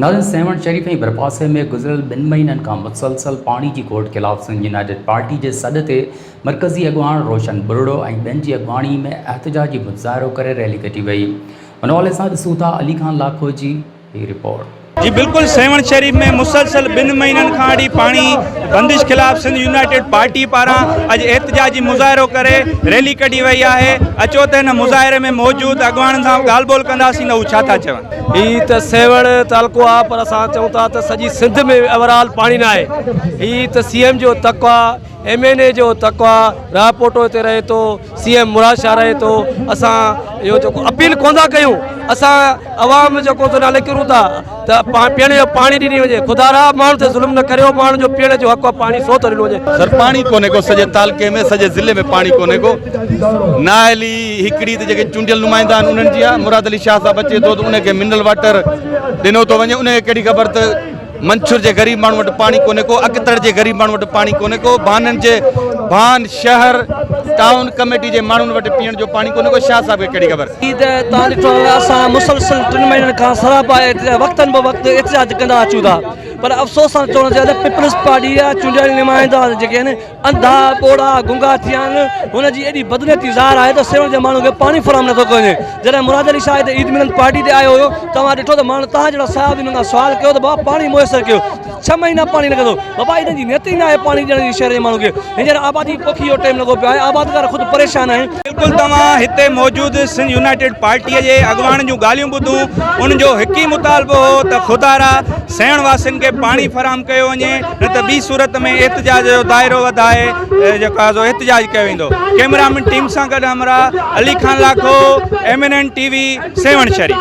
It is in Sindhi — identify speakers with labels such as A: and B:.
A: ناظرين سيوهڻ شريف ۽ ڀرپاسي ۾ گذريل ٻن مهينن کان مسلسل پاڻي جي گهوٽ خلاف سنڌ يونائيٽيڊ پارٽي جي سڏ تي مرڪزي اڳواڻ روشن ٻرڙو ۽ ٻين جي اڳواڻي ۾ احتجاجي مظاهرو ڪري ريلي ڪڍي وئي ان حوالي سان ڏسون ٿا علي خان لاکو جي هي رپورٽ. جي بلڪل سيوهڻ
B: شريف ۾ مسلسل ٻن مهينن کان اڙي پاڻي بندش خلاف سنڌ يونائيٽيڊ پارٽي پاران اڄ احتجاجي مظاهرو ڪري ريلي ڪڍي وئي آهي اچو ته هن مظاهري ۾ موجود اڳواڻن سان ڳالهه ٻولهه ڪنداسين ته هو ڇا ٿا چون. هي ته سيوهڻ
C: تعلقو آهي پر اسان چئون ٿا ته سڄي سنڌ ۾ اوور آل پاڻي ناهي هي ته سي ايم جو تڪ آهي. ايم اين اي جو تقوا راهه پوٽو هتي رهي ٿو سي ايم مراد شاهه رهي ٿو اسان اهو جيڪو اپيل ڪون ٿا ڪيون اسان عوام جيڪو ٿو نالي ڪرون ٿا ته پيئڻ جو پاڻي ڏني وڃي خدا را ماڻهو تي ظلم نه ڪريو ماڻهو جو پيئڻ جو حق پاڻي سو ٿو ڏنو وڃي سر پاڻي ڪونهي ڪو
D: سڄي تعلقي ۾ سڄي ضلعي ۾ پاڻي ڪونهي ڪو ناهلي هڪڙي ته جيڪي چونڊيل نمائندا آهن انهن جي مراد علي شاهه صاحب اچي ٿو ته ان کي منرل واٽر ڏنو ٿو وڃي ان کي ڪهڙي خبر ته منڇر جي غريب ماڻهن وٽ پاڻي ڪونهي ڪو اڪتڙ جي غريب ماڻهن وٽ پاڻي ڪونهي ڪو بانن جي بان شهر ٽائون ڪميٽي جي ماڻهن وٽ پيئڻ جو پاڻي ڪونهي ڪو شاهه صاحب کي ڪهڙي خبر جي ته تان ڏٺو
C: اسان مسلسل ٽن مهينن کان سراپا وقتن به وقت احتجاج ڪندا اچون ٿا پر افسوس سان چوڻ جي ته پيپلز پارٽي جا چونڊيل نمائندا جيڪي آهن انڌا، ٻوڙا، گنگا ٿي ويا آهن، هن جي ايڏي بدنيتي ظاهر آهي ته سيوهڻ جي ماڻهن کي پاڻي فراهم نٿو ڪيو وڃي، جڏهن مراد علي شاهه هتي عيد ملن پارٽي تي آيو هيو ته اوهان ڏٺو ته ماڻهن توهان جهڙا صاحب هن کان سوال ڪيو ته بابا پاڻي ميسر ڪيو، ڇهه مهينا پاڻي نه ڪندو، بابا هنن جي نيت ئي ناهي پاڻي ڏيڻ جي شهر جي ماڻهن کي، هينئر آبادي پوکي جو ٽيم لڳو پيو آهي، آبادگار خود پريشان آهن. بلڪل توهان هتي
B: موجود سنڌ يونائيٽيڊ پارٽي جي اڳواڻن جون ڳالهيون ٻڌون ان جو هڪ ئي مطالبو هو ته خدارا سيوهڻ واسين کي پاڻي فراهم ڪيو وڃي نه ته ٻي صورت ۾ احتجاج جو دائرو وڌائي جيڪو آهي سو احتجاج ڪيو ويندو ڪيمرامين ٽيم سان گڏ همراهه Ali Khan Lakho M N N T V Sehwan Sharif